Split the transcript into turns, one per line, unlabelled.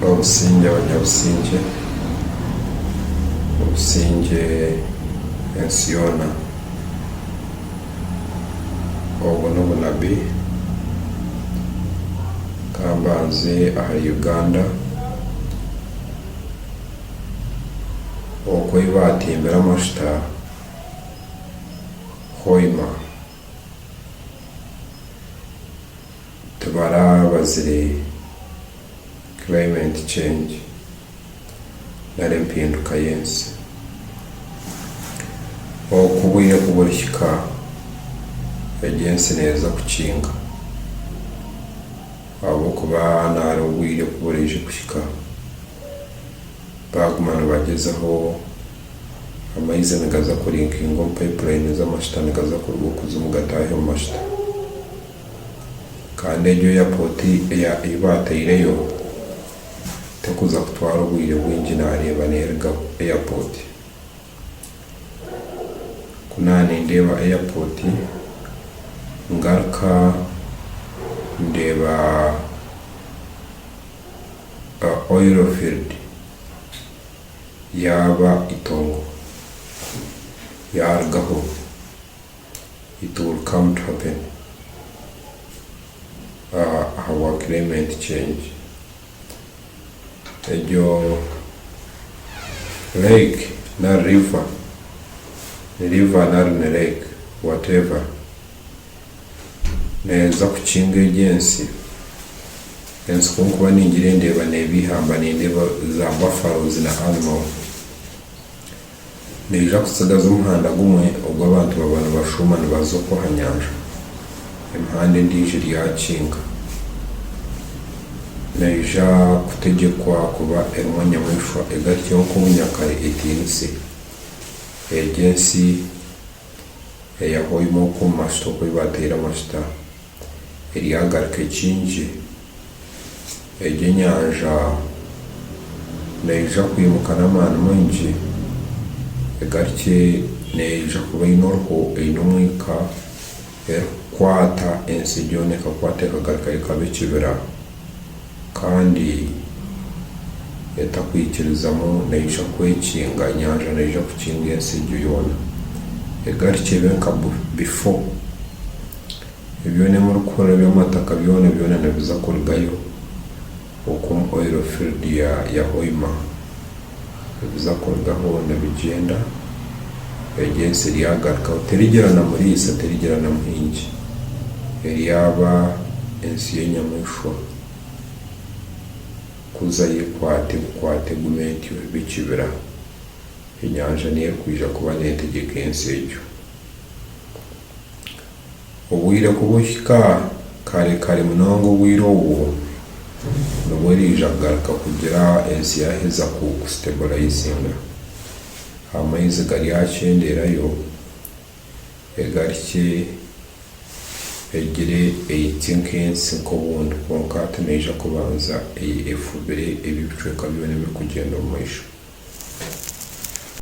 Obusingye abanyabusingye, obusingye ensi yoona. Obwo n'obunabi ka mbanze ahari Uganda oku ei baatimbire amashuta Hoima. Tibaraabazire climate change nari empinduka y'ensi. Oku obwire ku burihika, egyo ensi neeza kukinga. Ahabw'okuba nari obwire ku buraije kuhika, baaguma nibagyezaho, amaizi nigaza kurinkinga omu pipeline z'amashuta nigaza kuruga omu kuzimu gataahi omu mashuta. kandi egyo eyapoti ei baataireyo terikuza kutwara obwire bwingi naareeba neeriga eyapoti. Ku naanindeeba eyapoti ngaruka ndeeba oyiro fiiridi yaaba eitongo yaarugaho. it will come to happen ahabwa climate change egyo lake nari river ni river nari ni lake whatever neeza kukinga egi ensi, ensi kunkuba ningira ndeeba neeba eihamba nindeeba za buffaloes na animals Naija kutsigaza omuhanda gumwe ogu abantu baba nibashuuma nibaza okwo aha nyanja. Emihanda endiijo eri aha rukiinka. Naija kutegyekwa kuba erimu enyamaishwa egatyo nk'obunyakare etiinise. Egyo ensi eya Hoima okwo omu majuta oku ei baateire amajuta. eryagaruka ekingye, egyo enyanja neija kwimuka n'amaani maingi, egarukye neija kuba eine oruho, eine omwika, erikukwata ensi yoona ekakwata ekagarukayo ekaba ekibira, kandi etakwikirizamu neija kwekinga, enyanja neija kukinga ensi egyo yoona, egarukye ebe nka bifo. Ebyona ebi murikuhurira by'amataka byona byona nibiza kurugayo okwo omu oil field ya ya Hoima. Nibiza kurugaho nibigyenda, egyo ensi eryagarukaho terigira na muriisa terigira na muhingi. Eryaba ensi y'enyamishwa kuza y'ekwata ebukwata egume entyo ebe ekibira. Enyanja niyo erikwija kuba netegyeka ensi egyo. Obwire ku buhika, kare kare munonga obwire obwo nibwo eraija kugaruka kugira ensi yaaheza ku sitebulayizinga. Amaizi garyakyendeerayo egarikye egire eitsi nk'ensi nk'obundi kwonka hati neija kubanza efubire ebi ebicweka byona ebirikugyenda omu maisho.